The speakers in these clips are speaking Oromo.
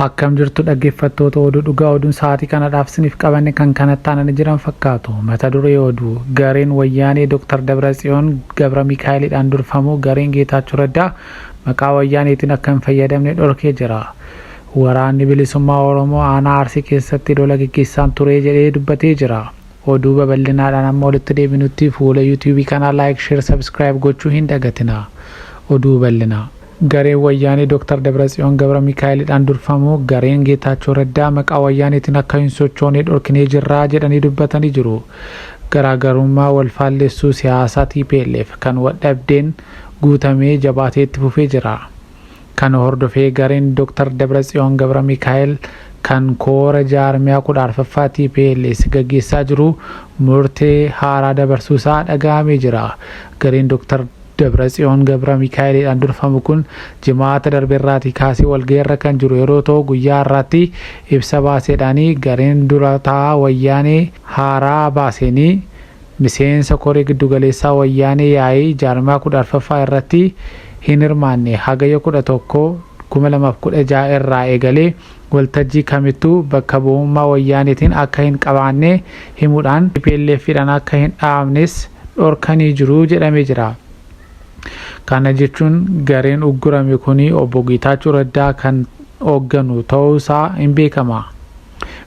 Akkam jirtu dhaggeffattoota oduu dhugaa oduun sa'aatii kanadhaaf sinif qabanne kan kanatti aanani jiran fakkaatu. Mata duree oduu, Gareen Wayyaanee Dr. Dabratsiyoon Gabramikaa'elidhaan durfamu gareen Geetaachoo Raddaa maqaa Wayyaaneetiin akka hin fayyadamne dhorkee jira. Waraanni Bilisummaa Oromoo aanaa Arsii keessatti lola geggeessaan ture jedhee dubbatee jira. Oduu babal'inaadhaan amma walitti deebinutti fuula YouTube kanaa like, share, subscribe gochuu hin dagatinaa. Oduu bal'inaa. Gareen Wayyaanee Dr. Dabratsiyoon Gabramikaa'elidhaan durfamu gareen Geetaachoo Raddaa maqaa Wayyaaneetiin akka hin sochoone dhorkinee jirra jedhanii dubbatanii jiru. Garaagarummaa wal faallessuu siyaasaa tplf kan waldhabdeen guutamee jabaatee itti fufee jira. Kana hordofee gareen Dr. Dabratsiyoon Gabramikaa'el kan koora jaarmiyaa 14ffaa tplf gaggeessaa jiru murtee haaraa dabarsuusaa dhaga'amee jira. Gareen Dr. Dabratsiyoon Gabramikaa'eliidhaan durfamu kun Jimaata darberraatii kaasee walgahiirra kan jiru yeroo ta'u guyyaa har'aatti ibsa baaseedhaani gareen dura taa'aa Wayyaanee haaraa baaseeni miseensa koree giddugaleessaa Wayyaanee yaa'ii jaarmiyaa 14ffaa irratti hin hirmaanne Hagayya 11, 2016 irraa eegalee waltajjii kamittuu bakka bu'ummaa Wayyaaneetiin akka hin qabaanne himuudhaan tplf dhaan akka hin dhaabnes dhorkanii jiru jedhamee jira. Kana jechuun gareen uggurame kuni Obbo Geetaachoo Raddaa kan hoogganu ta'uu isaa in beekama.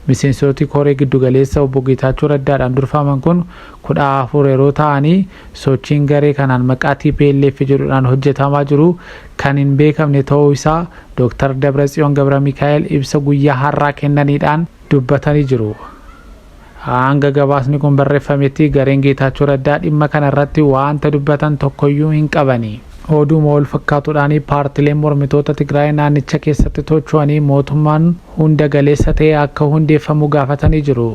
Miseensooti koree giddu galeessa Obbo Geetaachoo Raddaa dhaan durfaman kun 14 yeroo ta'anii sochiin garee kanaan maqaa tplf jedhu dhaan hojjetamaa jiru kan hin beekamne ta'uu isaa Dooktar Dabratsiyoon Gabramikaa'el ibsa guyyaa har'aa kennaniidhaan dubbatanii jiru. Hanga gabaasni kun barreffametti gareen Geetaachoo Raddaa dhimma kana irratti waanta dubbatan tokkoyyuu hin qabani. Oduuma wal fakkaatuudhaan paartileen mormitoota Tigraay naannicha keessatti tocho'anii mootummaan hunda galeessa ta'e akka hundeeffamu gaafatanii jiru.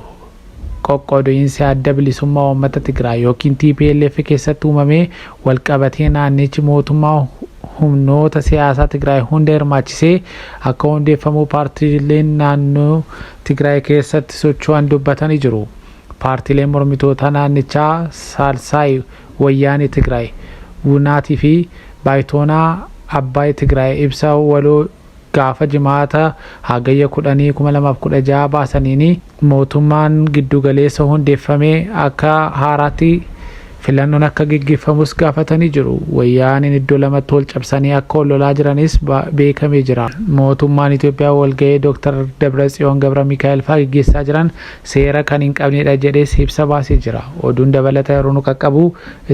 Qoqqooduinsi Adda Bilisummaa Uummata Tigraay ykn tplf keessatti uumame wal qabatee naannichi mootummaa humnoota siyaasaa Tigraay hunda hirmaachisee akka hundeeffamuu paartileen naannoo Tigraay keessatti socho'an dubbatani jiru. Paartileen mormitootaa naannichaa Saalsaayi Wayyaanee Tigraay, Wunaat fi Baayitoonaa Abbaay Tigraay ibsa waloo gaafa jimaata Hagayya 10,2016 baasaniin mootummaan giddu galeessa hundeeffame akka haaraatti filannoon akka geggeeffamus gaafatanii jiru. Wayyaaneen iddoo lamatti wal cabsanii akka wal lolaa jiranis beekamee jira. Mootummaan Itoophiyaa walga'ii Dr. Dabratsiyoon Gabramikaa'el fa'aa geggeessaa jiran seera kan hin qabneedha jedhees ibsa baasee jira. Oduun dabalata yeroo nu qaqqabu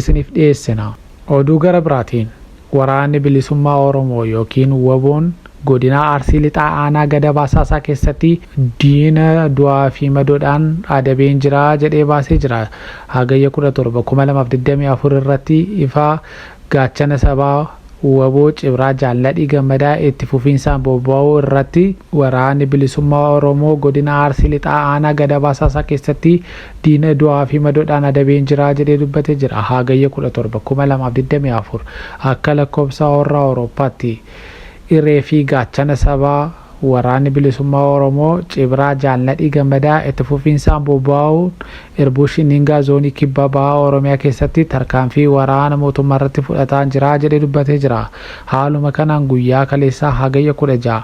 isiniif dhiyeessina. Oduu gara biraatiin. Waraanni Bilisummaa Oromoo ykn Wbo'n Godinaa Arsii Lixaa Aanaa Gadab Hasaasaa keessatti diina du'aa fi madoodhaan adabeen jira jedhee baasee jira. Hagayya 17, 2024 irratti ifaa Gaachana Sabaa wbo Cibraa Jaal Nadhii Gammadaa itti fufiinsaan bobba'uu irratti Waraanni Bilisummaa Oromoo Godina Arsii Lixaa Aanaa Gadab Hasaasaa keessatti diina du'aa fi madoodhaan adabeen jira jedhee dubbate jira. Haagayya 17, 2024 akka lakkoobsa horra Awurooppaatti iree fi gaachana sabaa Waraanni Bilisummaa Oromoo, Cibraa, Jaal Nadhii Gammadaa itti fufiinsaan bobba'uun Irbuu Shinningaa Zoonii Kibba Baha Oromiyaa keessatti tarkaanfii waraana mootummaa irratti fudhataan jira jedhee dubbatee jira. Haaluma kanaan guyyaa kaleessaa Hagayya 16,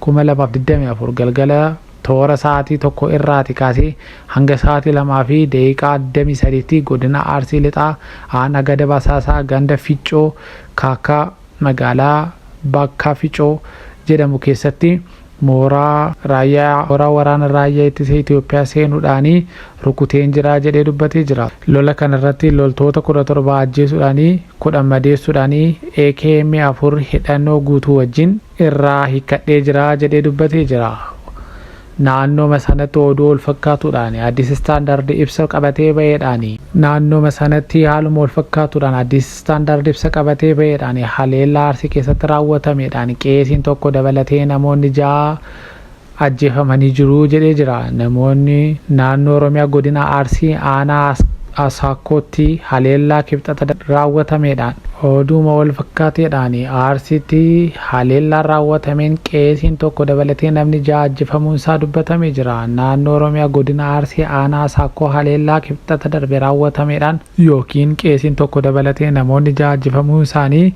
2024 galgala, Toora sa'aatii 1:00 irraati kaasee hanga sa'aatii 2:23tti Godina Arsii Lixaa Aanaa Gada Basaasaa Ganda Ficcoo Kaakkaa Magaalaa Bakka Ficoo jedhamu keessatti mooraa Raayyaa waraana Raayyaa Ittisa Itiyoophiyaa seenuudhaani rukuteen jira jedhee dubbatee jira. Lola kana irratti loltoota 17 ajjeesuudhaani 10 madeessuudhaani AKM 4 hidhannoo guutuu wajjin. irraa hiikkadhee jira jedhee dubbatee jira. Naannooma sanatti oduu walfakkaatuudhaan Addis Standard ibsa qabatee ba'eedhaan. Naannooma sanatti haaluma walfakkaatuudhaan Addis Standard ibsa qabatee ba'eedhaan haleellaa Arsii keessatti raawwatameedhaan qeesiin tokko dabalatee namoonni 6 ajjeefamanii jiru jedhee jira. Namoonni naannoo Oromiyaa godina Arsii aanaa Asaakkootti haleellaa Kibxata raawwatameedhaan. Oduuma walfakkaateedhaan Arsiitti haleellaan raawwatameen qeesiin tokko dabalatee namni 6 ajjefamuun isaa dubbatamee jira. Naannoo Oromiyaa godina Arsii aanaa Asaakkoo haleellaa Kibxata darbe raawwatameedhaan. ykn qeesiin tokko dabalatee namoonni 6 ajjefamuun isaanii.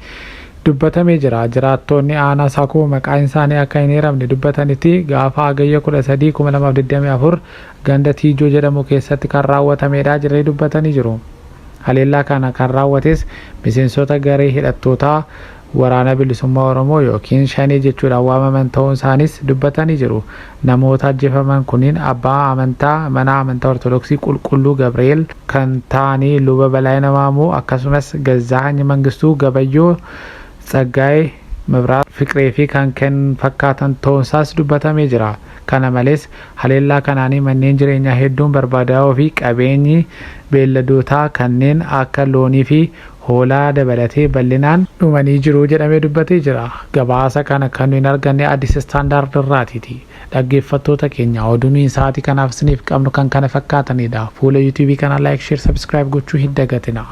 dubbatamee jira. Jiraattoonni aanaa Sakuu maqaansaanii akka hin eeramne dubbatanitti gaafa Hagayya 13, 2024 ganda Tiijoo jedhamu keessatti kan raawwatameedha jedhanii dubbatanii jiru. Haleellaa kana kan raawwates miseensota garee hidhattootaa Waraana Bilisummaa Oromoo ykn Shanee jechuudhaan waamaman ta'uunsaaniis dubbatanii jiru. Namoota ajjefaman kunniin abbaa amantaa mana amantaa Ortodoksii Qulqulluu Gabri'eel kan ta'anii Luba Balaayina Maamuu akkasumas Gazzaahany Mangistuu, Gabayyoo, Tsaggaayee, Mebiraat, Fiqree fi kan kan fakkaatan ta'uun isaas dubbatamee jira. Kana malees haleellaa kanaanii manneen jireenyaa hedduun barbaadaa'uu fi qabeenyi beelladootaa kanneen akka loonii fi hoolaa dabalatee bal'inaan dhumanii jiru jedhamee dubbatee jira. Gabaasa kana kan nuyi arganne Addis Standard irraatiti. Dhaggeeffattoota keenya oduu nuyi sa'aatii kanaaf isiniif qabnu kan kana fakkaatanidha. Fuula YouTube kanaa like, share, subscribe gochuu hin dagatina.